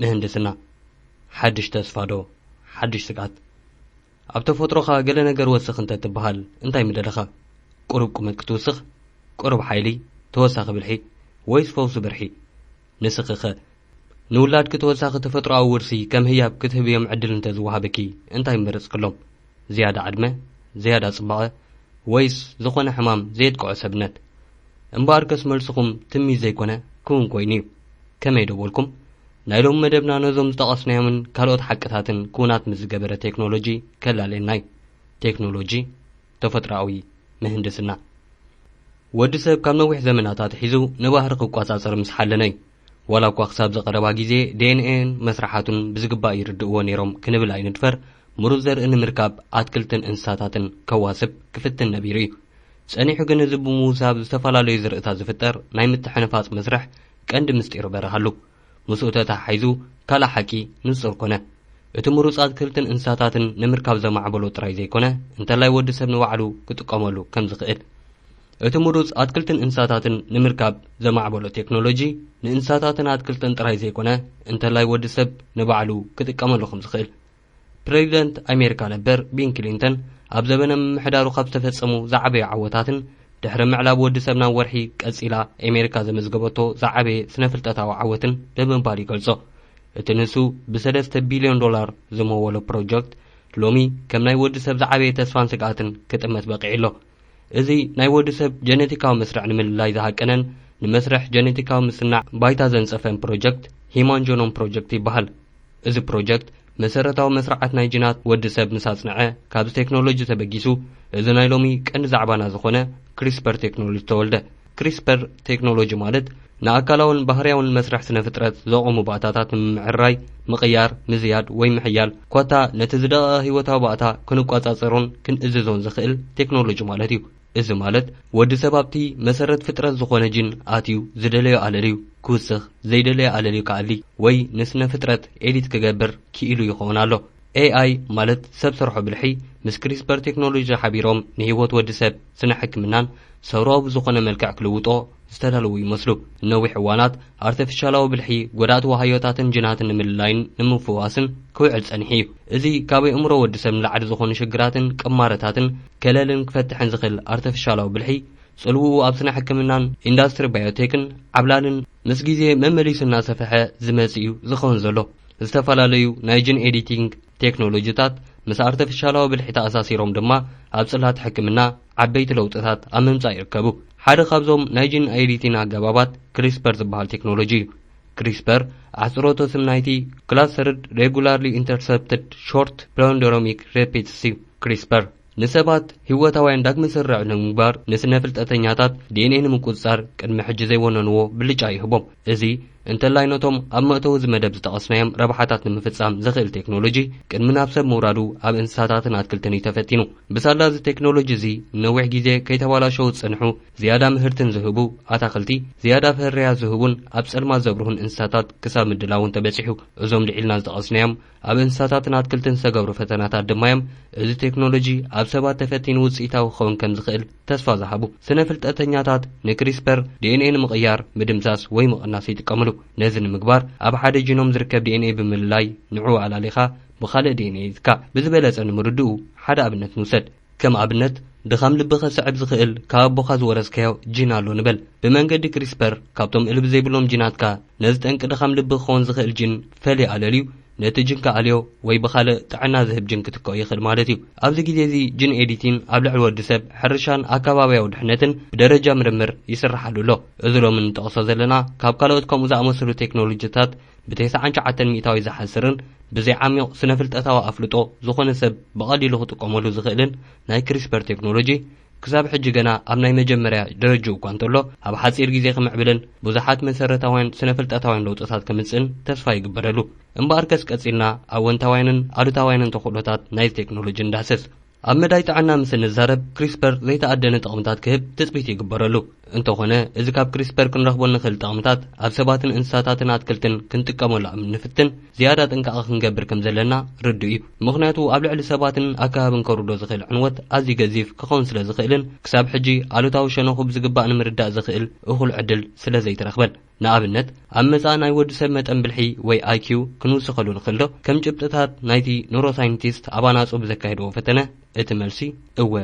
ምህንድስና፣ ሓድሽ ተስፋ ዶ ሓድሽ ስግኣት? ኣብ ተፈጥሮኻ ገለ ነገር ወስኽ እንተ ትበሃል እንታይ ምደለኻ? ቁሩብ ቁመት ክትውስኽ? ቁሩብ ሓይሊ? ተወሳኺ ብልሒ? ወይስ ፈውሲ ብርሒ? ንስኺኸ? ንውላድኪ ተወሳኺ ተፈጥሮኣዊ ውርሲ ከም ህያብ ክትህብዮም ዕድል እንተ ዝወሃበኪ እንታይ ምመረጽክሎም? ዝያዳ ዕድመ? ዝያዳ ጽባቐ? ወይስ ዝኾነ ሕማም ዘየጥቅዖ ሰብነት? እምበኣርከስ መልስኹም ትምኒት ዘይኮነ ክውን ኮይኑ'ዩ። ከመይ ደወልኩም? ናይ ሎሚ መደብና ነዞም ዝጠቐስናዮምን ካልኦት ሓቅታትን ክውናት ምስ ዝገበረ ቴክኖሎጂ ከላልየና እዩ። ቴክኖሎጂ፣ ተፈጥሮኣዊ ምህንድስና። ወዲ ሰብ ካብ ነዊሕ ዘመናት ኣትሒዙ ንባህሪ ክቆጻጸር ምስ ሓለነ እዩ። ዋላ እኳ ክሳብዚ ቀረባ ግዜ ዲኤንኤን መስርሓቱን ብዝግባእ ይርድእዎ ነይሮም ክንብል ኣይንድፈር፣ ምሩጽ ዘርኢ ንምርካብ ኣትክልትን እንስሳታትን ከዋስብ ክፍትን ነቢሩ እዩ። ጸኒሑ ግን እዚ ብምውሳብ ዝተፈላለዩ ዝርኢታት ዝፍጠር ናይ ምትሕንፋጽ መስርሕ ቀንዲ ምስጢሩ በረሃሉ። ምስኡ ተተሓሒዙ ካልእ ሓቂ ንጹር ኮነ። እቲ ምሩጽ ኣትክልትን እንስሳታትን ንምርካብ ዘማዕበሎ ጥራይ ዘይኮነ እንተላይ ወዲ ሰብ ንባዕሉ ክጥቀመሉ ከም ዝኽእል። እቲ ምሩጽ ኣትክልትን እንስሳታትን ንምርካብ ዘማዕበሎ ቴክኖሎጂ ንእንስሳታትን ኣትክልትን ጥራይ ዘይኮነ እንተላይ ወዲ ሰብ ንባዕሉ ክጥቀመሉ ከም ዝኽእል። ፕረዚደንት ኣሜሪካ ነበር ቢን ክሊንተን ኣብ ዘበነ ምምሕዳሩ ካብ ዝተፈጸሙ ዝዓበዩ ዓወታትን ድሕሪ ምዕላብ ወዲ ሰብ ናብ ወርሒ ቀጺላ ኣሜሪካ ዘመዝገበቶ ዝዓበየ ስነ ፍልጠታዊ ዓወትን ብምባል ይገልጾ። እቲ ንሱ ብሰለስተ ቢልዮን ዶላር ዝመወሎ ፕሮጀክት ሎሚ ከም ናይ ወዲ ሰብ ዝዓበየ ተስፋን ስግኣትን ክጥመት በቒዑ ኣሎ። እዚ ናይ ወዲ ሰብ ጀነቲካዊ መስርዕ ንምልላይ ዝሃቀነን ንመስርሕ ጀነቲካዊ ምስናዕ ባይታ ዘንጸፈን ፕሮጀክት ሂማን ጆኖም ፕሮጀክት ይበሃል። እዚ ፕሮጀክት መሰረታዊ መስርዓት ናይ ጅናት ወዲ ሰብ ምስ ኣጽንዐ ካብዚ ቴክኖሎጂ ተበጊሱ እዚ ናይ ሎሚ ቀንዲ ዛዕባና ዝኾነ ክሪስፐር ቴክኖሎጂ ተወልደ። ክሪስፐር ቴክኖሎጂ ማለት ንኣካላውን ባህርያውን መስርሕ ስነ ፍጥረት ዘቖሙ ባእታታት ንምምዕርራይ፣ ምቕያር፣ ምዝያድ ወይ ምሕያል ኮታ ነቲ ዝደቐቐ ህይወታዊ ባእታ ክንቆጻጸሮን ክንእዝዞን ዝኽእል ቴክኖሎጂ ማለት እዩ። እዚ ማለት ወዲ ሰብ ኣብቲ መሰረት ፍጥረት ዝኾነ ጂን ኣትዩ ዝደለዮ ኣለልዩ ክውስኽ፣ ዘይደለዮ ኣለልዩ ክኣሊ ወይ ንስነ ፍጥረት ኤዲት ክገብር ክኢሉ ይኸውን ኣሎ። ኤኣይ ማለት ሰብ ሰርሖ ብልሒ ምስ ክሪስፐር ቴክኖሎጂ ሓቢሮም ንህይወት ወዲ ሰብ ስነ ሕክምናን ሰውራዊ ብዝኾነ መልክዕ ክልውጦ ዝተዳለዉ ይመስሉ። ንነዊሕ እዋናት ኣርተፊሻላዊ ብልሒ ጎዳእቲ ዋሃዮታትን ጅናትን ንምልላይን ንምፍዋስን ክውዕል ጸኒሑ እዩ። እዚ ካብ ኣእምሮ ወዲ ሰብ ንላዕሊ ዝኾኑ ሽግራትን ቅማረታትን ከለልን ክፈትሕን ዝኽል ኣርተፊሻላዊ ብልሒ ጽልውኡ ኣብ ስነ ሕክምናን ኢንዳስትሪ ባዮቴክን ዓብላልን ምስ ግዜ መመሊሱ እናሰፈሐ ዝመጽእ እዩ ዝኸውን ዘሎ። ዝተፈላለዩ ናይ ጅን ኤዲቲንግ ቴክኖሎጂታት ምስ ኣርተፊሻላዊ ብልሒ ተኣሳሲሮም ድማ ኣብ ጽላት ሕክምና ዓበይቲ ለውጥታት ኣብ ምምጻእ ይርከቡ። ሓደ ካብዞም ናይ ጅን ኤዲቲን ኣገባባት ክሪስፐር ዝበሃል ቴክኖሎጂ እዩ። ክሪስፐር ኣሕጽሮተ ስም ናይቲ ክላስተርድ ሬጉላርሊ ኢንተርሰፕትድ ሾርት ፕሎንደሮሚክ ሬፒትስ እዩ። ክሪስፐር ንሰባት ህይወታውያን ዳግመ ስርርዕ ንምግባር ንስነ ፍልጠተኛታት ዲኤንኤ ንምቁጽጻር ቅድሚ ሕጂ ዘይወነንዎ ብልጫ ይህቦም። እዚ እንተላይ ነቶም ኣብ መእተዊ እዚ መደብ ዝጠቐስናዮም ረብሓታት ንምፍጻም ዘኽእል ቴክኖሎጂ ቅድሚ ናብ ሰብ ምውራዱ ኣብ እንስሳታትን ኣትክልትን እዩ ተፈቲኑ። ብሳላ እዚ ቴክኖሎጂ እዚ ንነዊሕ ግዜ ከይተባላሸዉ ዝጸንሑ ዝያዳ ምህርትን ዝህቡ ኣታኽልቲ፣ ዝያዳ ፍርያት ዝህቡን ኣብ ጸልማት ዘብርሁን እንስሳታት ክሳብ ምድላውን ተበጺሑ። እዞም ልዒልና ዝጠቐስናዮም ኣብ እንስሳታትን ኣትክልትን ዝተገብሩ ፈተናታት ድማ እዮም እዚ ቴክኖሎጂ ኣብ ሰባት ተፈቲኑ ውፅኢታዊ ክኸውን ከም ዝኽእል ተስፋ ዝሃቡ። ስነ ፍልጠተኛታት ንክሪስፐር ዲኤንኤ ንምቕያር፣ ምድምሳስ ወይ ምቕናስ ይጥቀምሉ። ነዚ ንምግባር ኣብ ሓደ ጂኖም ዝርከብ ዲኤንኤ ብምልላይ ንዕኡ ኣላሊኻ ብኻልእ ዲኤንኤ ይትካእ። ብዝበለፀ ንምርድኡ ሓደ ኣብነት ንውሰድ። ከም ኣብነት፣ ድኻም ልቢ ከስዕብ ዝኽእል ካብ ኣቦኻ ዝወረስካዮ ጂን ኣሎ ንበል። ብመንገዲ ክሪስፐር፣ ካብቶም እልቢ ዘይብሎም ጂናትካ፣ ነዚ ጠንቂ ድኻም ልቢ ክኸውን ዝኽእል ጂን ፈልዩ ኣለልዩ፣ ነቲ ጂን ክኣልዮ ወይ ብኻልእ ጥዕና ዝህብ ጂን ክትክኦ ይኽእል ማለት እዩ። ኣብዚ ግዜ እዚ ጂን ኤዲቲን ኣብ ልዕሊ ወዲ ሰብ፣ ሕርሻን ኣከባብያዊ ድሕነትን ብደረጃ ምርምር ይስርሓሉ ኣሎ። እዚ ሎሚ እንጠቕሶ ዘለና ካብ ካልኦት ከምኡ ዝኣመሰሉ ቴክኖሎጂታት፣ ብተስዓን ሸውዓተን ሚእታዊት ዝሓስርን ብዘይ ዓሚቕ ስነ ፍልጠታዊ ኣፍልጦ ዝኾነ ሰብ ብቐሊሉ ክጥቀመሉ ዝኽእልን ናይ ክሪስፐር ቴክኖሎጂ ክሳብ ሕጂ ገና ኣብ ናይ መጀመርያ ደረጅኡ እኳ እንተሎ ኣብ ሓጺር ግዜ ክምዕብልን ብዙሓት መሰረታውያን ስነ ፍልጠታውያን ለውጥታት ከምጽእን ተስፋ ይግበረሉ። እምበኣርከስ ቀጺልና ኣወንታውያንን ኣሉታውያንን ተኽእሎታት ናይዚ ቴክኖሎጂ ንዳህስስ። ኣብ መዳይ ጥዕና ምስ እንዛረብ ክሪስፐር ዘይተኣደነ ጥቕምታት ክህብ ትጽቢት ይግበረሉ። እንተኾነ እዚ ካብ ክሪስፐር ክንረኽቦ እንኽእል ጥቕምታት ኣብ ሰባትን እንስሳታትን ኣትክልትን ክንጥቀመሉ ኣብ እንፍትን ዝያዳ ጥንቃቐ ክንገብር ከም ዘለና ርዱእ እዩ። ምኽንያቱ ኣብ ልዕሊ ሰባትን ኣከባብን ከውርዶ ዝኽእል ዕንወት ኣዝዩ ገዚፍ ክኸውን ስለ ዝኽእልን ክሳብ ሕጂ ኣሉታዊ ሸነኹ ብዝግባእ ንምርዳእ ዘኽእል እኹል ዕድል ስለ ዘይተረኽበን። ንኣብነት ኣብ መጻኢ ናይ ወዲ ሰብ መጠን ብልሒ ወይ IQ ክንውስኸሉ ንኽእልዶ? ከም ጭብጥታት ናይቲ ኑሮሳይንቲስት ኣብ ኣናጹ ብዘካየድዎ ፈተነ እቲ መልሲ እወ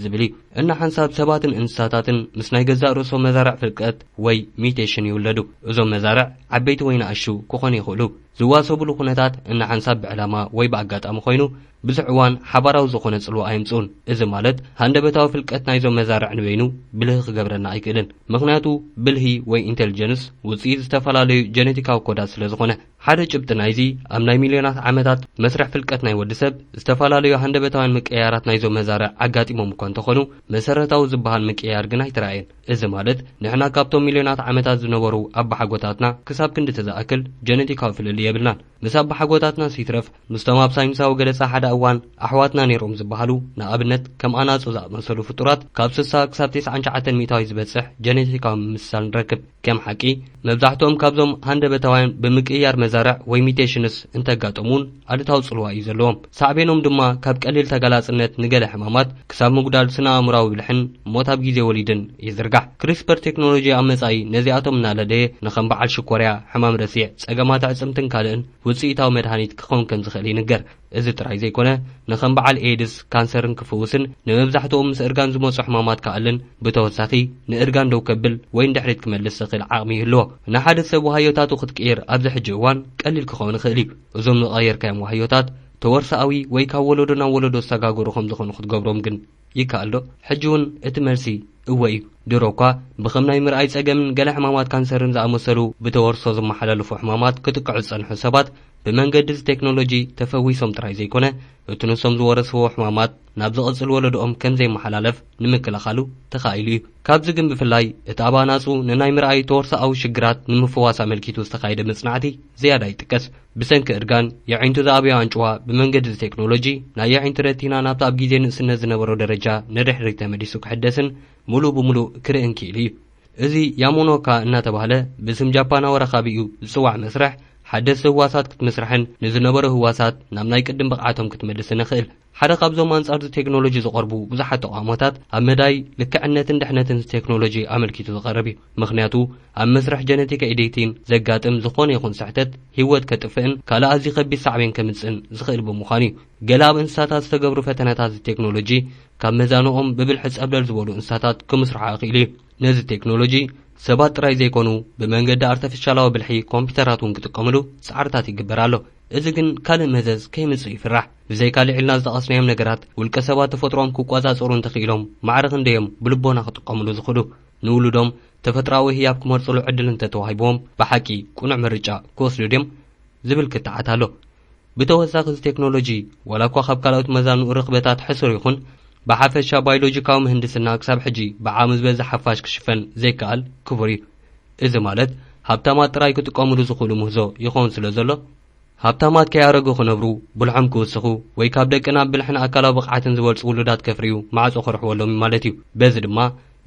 ዝብል እዩ። እና ሓንሳብ ሰባትን እንስሳታትን ምስ ናይ ገዛእ ርእሶም መዛርዕ ፍልቀት ወይ ሚዩቴሽን ይውለዱ። እዞም መዛርዕ ዓበይቲ ወይ ናእሽቱ ክኾኑ ይኽእሉ። ዝዋሰቡሉ ኩነታት እና ሓንሳብ ብዕላማ ወይ ብኣጋጣሚ ኮይኑ ብዙሕ እዋን ሓባራዊ ዝኾነ ጽልዋ ኣየምጽኡን። እዚ ማለት ሃንደበታዊ ፍልቀት ናይዞም መዛርዕ ንበይኑ ብልሂ ክገብረና ኣይክእልን። ምኽንያቱ ብልሂ ወይ ኢንተልጀንስ ውጽኢት ዝተፈላለዩ ጀነቲካዊ ኮዳት ስለ ዝኾነ። ሓደ ጭብጢ ናይዚ ኣብ ናይ ሚልዮናት ዓመታት መስርሕ ፍልቀት ናይ ወዲ ሰብ ዝተፈላለዩ ሃንደበታውያን ምቅይያራት ናይዞም መዛርዕ ኣጋጢሞም እኳ እንተኾኑ መሰረታዊ ዝበሃል ምቅይያር ግን ኣይተራእየን። እዚ ማለት ንሕና ካብቶም ሚልዮናት ዓመታት ዝነበሩ ኣባሓጎታትና ክሳብ ክንድቲ ዝኣክል ጀነቲካዊ ፍልልይ የብልናን። ምስ ኣባሓጎታትናስ ይትረፍ ምስቶም ኣብ ሳይንሳዊ ገለጻ ሓደ እዋን ኣሕዋትና ነይሮም ዝበሃሉ ንኣብነት ከም ኣናጹ ዝኣመሰሉ ፍጡራት ካብ ስሳ ክሳብ ቴስዓን ሸዓተን ሚእታዊ ዝበጽሕ ጀኔቲካዊ ምምስሳል ንረክብ። ከም ሓቂ መብዛሕትኦም ካብዞም ሃንደበታውያን ብምቅይያር መዛርዕ ወይ ሚቴሽንስ እንተጋጠሙ'ውን ኣሉታዊ ጽልዋ እዩ ዘለዎም። ሳዕቤኖም ድማ ካብ ቀሊል ተጋላጽነት ንገለ ሕማማት ክሳብ ምጉዳል ስነ-ኣእምሮኣዊ ብልሕን ሞት ኣብ ግዜ ወሊድን ይዝርጋሕ። ክሪስፐር ቴክኖሎጂ ኣብ መጻኢ ነዚኣቶም እናለለየ ንከም በዓል ሽኮርያ፣ ሕማም ረሲዕ፣ ጸገማት ኣዕጽምትን ካልእን ውጽኢታዊ መድሃኒት ክኸውን ከም ዝኽእል ይንገር። እዚ ጥራይ ዘይኮነ ንከም በዓል ኤይድስ፣ ካንሰርን ክፍውስን ንመብዛሕትኦም ምስ እርጋን ዝመጹ ሕማማት ክኣልን ብተወሳኺ ንእርጋን ደው ከብል ወይ ንድሕሪት ክመልስ ዘኽእል ዓቕሚ ይህልዎ። ንሓደ ሰብ ዋህዮታቱ ክትቅይር ኣብዚ ሕጂ እዋን ቀሊል ክኸውን ይኽእል'ዩ። እዞም ዝቐየርካዮም ዋህዮታት ተወርሶኣዊ ወይ ካብ ወለዶ ናብ ወለዶ ዝሰጋገሩ ከም ዝኾኑ ክትገብሮም ግን ይከኣልዶ? ሕጂውን እቲ መልሲ እወ እዩ። ድሮ እኳ ብከም ናይ ምርኣይ ጸገምን ገለ ሕማማት ካንሰርን ዝኣመሰሉ ብተወርሶ ዝመሓላለፉ ሕማማት ክጥቅዑ ዝጸንሑ ሰባት ብመንገዲ እዚ ቴክኖሎጂ ተፈዊሶም ጥራይ ዘይኮነ እቲ ንሶም ዝወረስዎ ሕማማት ናብ ዝቕጽል ወለዶኦም ከም ዘይመሓላለፍ ንምክልኻሉ ተኻኢሉ እዩ። ካብዚ ግን ብፍላይ እቲ ኣብ ኣናጹ ንናይ ምርኣይ ተወርሶኣዊ ሽግራት ንምፍዋስ ኣመልኪቱ ዝተኻየደ መጽናዕቲ ዝያዳ ይጥቀስ። ብሰንኪ እርጋን የዒንቱ ዝኣብዮ ኣንጭዋ ብመንገዲ'ዚ ቴክኖሎጂ ናይ የዒንቲ ረቲና ናብቲ ኣብ ግዜ ንእስነት ዝነበሮ ደረጃ ንድሕሪት ተመሊሱ ክሕደስን ምሉእ ብምሉእ ክርእን ክኢሉ እዩ። እዚ ያሞኖካ እናተባህለ ብስም ጃፓናዊ ረኻቢኡ ዝጽዋዕ መስርሕ ሓደስቲ ህዋሳት ክትምስርሕን ንዝነበሩ ህዋሳት ናብ ናይ ቅድም ብቕዓቶም ክትመልስን የኽእል። ሓደ ካብዞም ኣንጻርዚ ቴክኖሎጂ ዝቐርቡ ብዙሓት ተቓውሞታት ኣብ መዳይ ልክዕነትን ድሕነትንዚ ቴክኖሎጂ ኣመልኪቱ ዝቐርብ እዩ። ምኽንያቱ ኣብ መስርሕ ጀነቲክ ኤዲቲን ዘጋጥም ዝኾነ ይኹን ስሕተት ህይወት ከጥፍእን ካልእ ኣዝዩ ከቢድ ሳዕቤን ከምጽእን ዝኽእል ብምዃኑ እዩ። ገለ ኣብ እንስሳታት ዝተገብሩ ፈተነታትዚ ቴክኖሎጂ ካብ መዛኑኦም ብብልሒ ጸብለል ዝበሉ እንስሳታት ክምስርሑ ኣኽኢሉ እዩ። ነዚ ቴክኖሎጂ ሰባት ጥራይ ዘይኮኑ ብመንገዲ ኣርተፍሻላዊ ብልሒ ኮምፒተራት እውን ክጥቀምሉ ጻዕርታት ይግበር ኣሎ። እዚ ግን ካልእ መዘዝ ከይምጽእ ይፍራሕ። ብዘይካ ልዒልና ዝጠቐስናዮም ነገራት፣ ውልቀ ሰባት ተፈጥሮኦም ክቆጻጸሩ እንተኽኢሎም ማዕረ ክንደይ'ዮም ብልቦና ክጥቀምሉ ዝኽእሉ? ንውሉዶም ተፈጥሮኣዊ ህያብ ክመርጽሉ ዕድል እንተተዋሂብዎም ብሓቂ ቅኑዕ ምርጫ ክወስዱ ድዮም? ዝብል ክትዓት ኣሎ። ብተወሳኺ እዚ ቴክኖሎጂ ዋላ'ኳ ካብ ካልኦት መዛኑኡ ርኽበታት ሕሱር ይኹን፣ ብሓፈሻ ባይሎጂካዊ ምህንድስና ክሳብ ሕጂ ብዓቕሚ ዝበዝሕ ሓፋሽ ክሽፈን ዘይከኣል ክቡር'ዩ። እዚ ማለት ሃብታማት ጥራይ ክጥቀምሉ ዝኽእሉ ምህዞ ይኸውን ስለዘሎ ሃብታማት ከይኣረጉ ክነብሩ፣ ብልሖም ክውስኹ፣ ወይ ካብ ደቅና ብብልሕን ኣካላዊ ብቕዓትን ዝበልጹ ውሉዳት ከፍርዩ ማዕጾ ክርሕወሎም እዩ ማለት እዩ። በዚ ድማ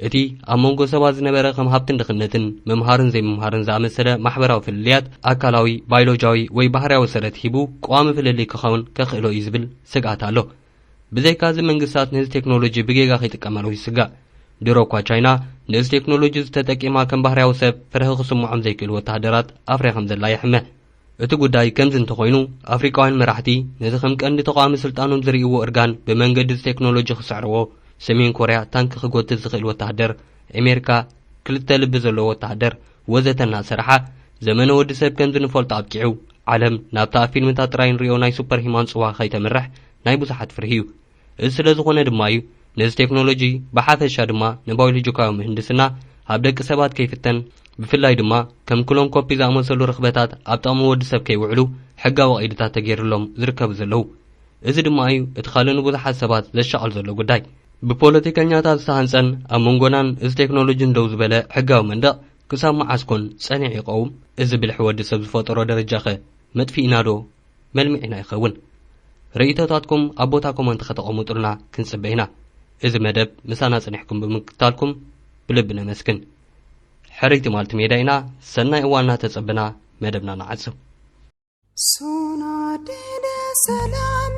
እቲ ኣብ መንጎ ሰባት ዝነበረ ከም ሃብትን ድኽነትን፣ ምምሃርን ዘይምምሃርን ዝኣመሰለ ማሕበራዊ ፍልልያት ኣካላዊ፣ ባይሎጂያዊ ወይ ባህርያዊ ሰረት ሂቡ ቀዋሚ ፍልልይ ክኸውን ከኽእሎ እዩ ዝብል ስግኣት ኣሎ። ብዘይካዚ መንግስታት ነዚ ቴክኖሎጂ ብጌጋ ከይጥቀማሉ ይስጋእ። ድሮ እኳ ቻይና ነዚ ቴክኖሎጂ እዚ ተጠቂማ ከም ባህርያዊ ሰብ ፍርሒ ክስምዖም ዘይክእል ወተሃደራት ኣፍርያ ከምዘላ ይሕመ። እቲ ጉዳይ ከምዚ እንተኾይኑ፣ ኣፍሪቃውያን መራሕቲ ነዚ ከም ቀንዲ ተቓዋሚ ስልጣኖም ዝርእይዎ እርጋን ብመንገዲ እዚ ቴክኖሎጂ ክስዕርዎ፣ ሰሜን ኮርያ ታንኪ ክጎትት ዝኽእል ወተሃደር፣ ኣሜሪካ ክልተ ልቢ ዘለዎ ወተሃደር ወዘተ እናሰርሓ፣ ዘመነ ወዲ ሰብ ከምዚ ንፈልጦ ኣብቂዑ፣ ዓለም ናብቲ ኣብ ፊልምታት ጥራይ እንርእዮ ናይ ሱፐር ሂማን ጽዋ ከይተምርሕ ናይ ብዙሓት ፍርሂ'ዩ። እዚ ስለ ዝኾነ ድማ እዩ ነዚ ቴክኖሎጂ ብሓፈሻ ድማ ንባዮሎጂካዊ ምህንድስና ኣብ ደቂ ሰባት ከይፍተን ብፍላይ ድማ ከም ክሎን ኮፒ ዝኣመሰሉ ርኽበታት ኣብ ጥቕሚ ወዲ ሰብ ከይውዕሉ ሕጋዊ ቀይድታት ተገይርሎም ዝርከቡ ዘለዉ። እዚ ድማ እዩ እቲ ካልእ ንብዙሓት ሰባት ዘሻቕል ዘሎ ጉዳይ። ብፖለቲከኛታት ዝተሃንጸን ኣብ መንጎናን እዚ ቴክኖሎጂን ደው ዝበለ ሕጋዊ መንደቕ ክሳብ መዓስ ኮን ጸኒዑ ይቐውም? እዚ ብልሒ ወዲ ሰብ ዝፈጠሮ ደረጃኸ መጥፊኢናዶ መልምዒና ይኸውን። ርእይቶታትኩም ኣብ ቦታ ኮመንት ከተቐምጡልና ክንጽበ ኢና። እዚ መደብ ምሳና ጽኒሕኩም ብምክትታልኩም ብልቢ ነመስግን። ሕርይቲ ማልቲ ሜዳ ኢና፣ ሰናይ እዋን እናተጸበና መደብና ንዓጽው። ሰላም